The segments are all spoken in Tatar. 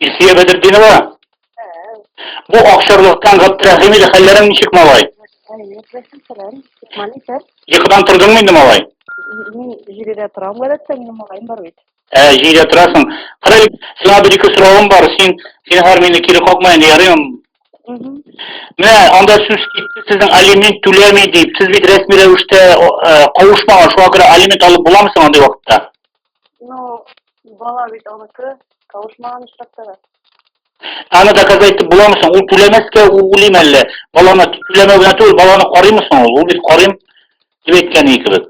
Илсия Бәдердинова. Бу акчарлыктан Габдрәхим иде хәлләрең ничек малай? Йокыдан тордыңмы инде малай? Мин җирдә торам, гадәттә, минем малаем бар бит. Ә, җирдә торасың. Кара, сиңа бер ике соравым бар. Син, син һәр мине кире какма инде, ярыйм. Менә анда сүз китте, сезнең алимент түләми дип. Сез бит рәсми рәвештә кавышмаган, шуңа күрә алимент алып буламы соң андый вакытта? Ну, бала бит аныкы, кавышмаган очракта да. Аны доказать итеп буламы соң? Ул түләмәскә уйлыйм әллә? Баланы түләмәү генә түгел, баланы карыймы соң ул? Ул бит карыйм дип әйткән икебез.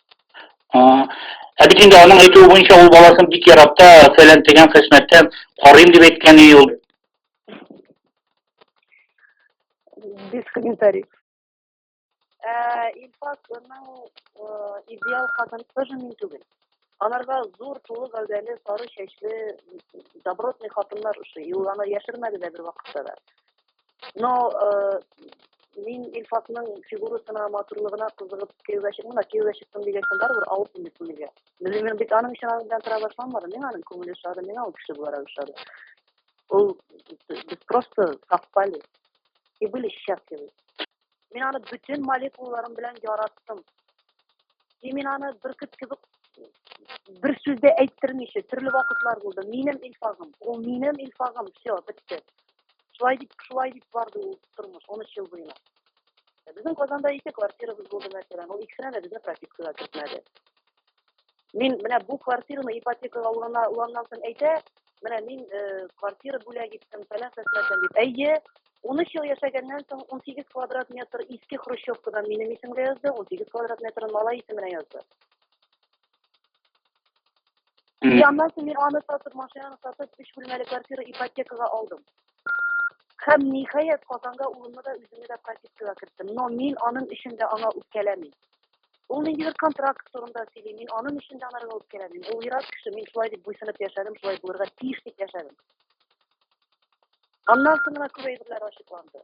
Ә бит инде аның әйтүе буенча ул баласын бик ярата, фәлән тегән хезмәттән карыйм дип әйткән и ул. Без комментарий. Ә Илфас аның идеал хатын тоже мин түгел. Анарга зур тулы гәүдәле, сары чәчле, добротный хатыннар ошый. И ул аны яшермәде дә бер вакытта да. Но э, мин Илфатның фигурасына, матурлыгына кызыгып кияүгә чыктым да, кияүгә чыктым дигәнсен барыбер алып инде күңелгә. Белмим, мин бит аның өчен аның белән тора башламадым. Миңа аның күңеле ошады, миңа ул кеше буларак ошады. Ул без просто совпали и были счастливы. Мин аны бөтен молекулаларым белән яраттым. И мин аны бөркет кебек бер сүз дә әйттермичә, төрле вакытлар булды. Минем Илфагым, ул минем Илфагым, все, бетте. Шулай дип, шулай дип барды ул тормыш, 13 ел буена. Безнең Казанда ике квартирабыз булды, мәсәлән, ул икесенә дә безне пропискага кертмәде. Мин менә бу квартираны ипотекага алганда алганнан соң әйтә, менә мин э, квартира бүләк иттем, фәлән фәсмәтән дип. Әйе, 13 ел яшәгәннән соң 18 квадрат метр иске хрущевкадан минем исемгә язды, 18 квадрат метрын малай исеменә язды. И аннан соң мин аны сатып, машинаны сатып, өч бүлмәле квартира ипотекага алдым. Һәм ниһаять Казанга улымны да үземне дә пропискага керттем. Но мин аның өчен дә аңа үпкәләмим. Ул нинди бер контракт турында сөйли. Мин аның өчен дә анарга үткәрәм. Ул ерак кеше, мин шулай дип буйсынып яшәдем, шулай булырга тиеш дип яшәдем. Аннан соң гына күп әйберләр ачыкланды.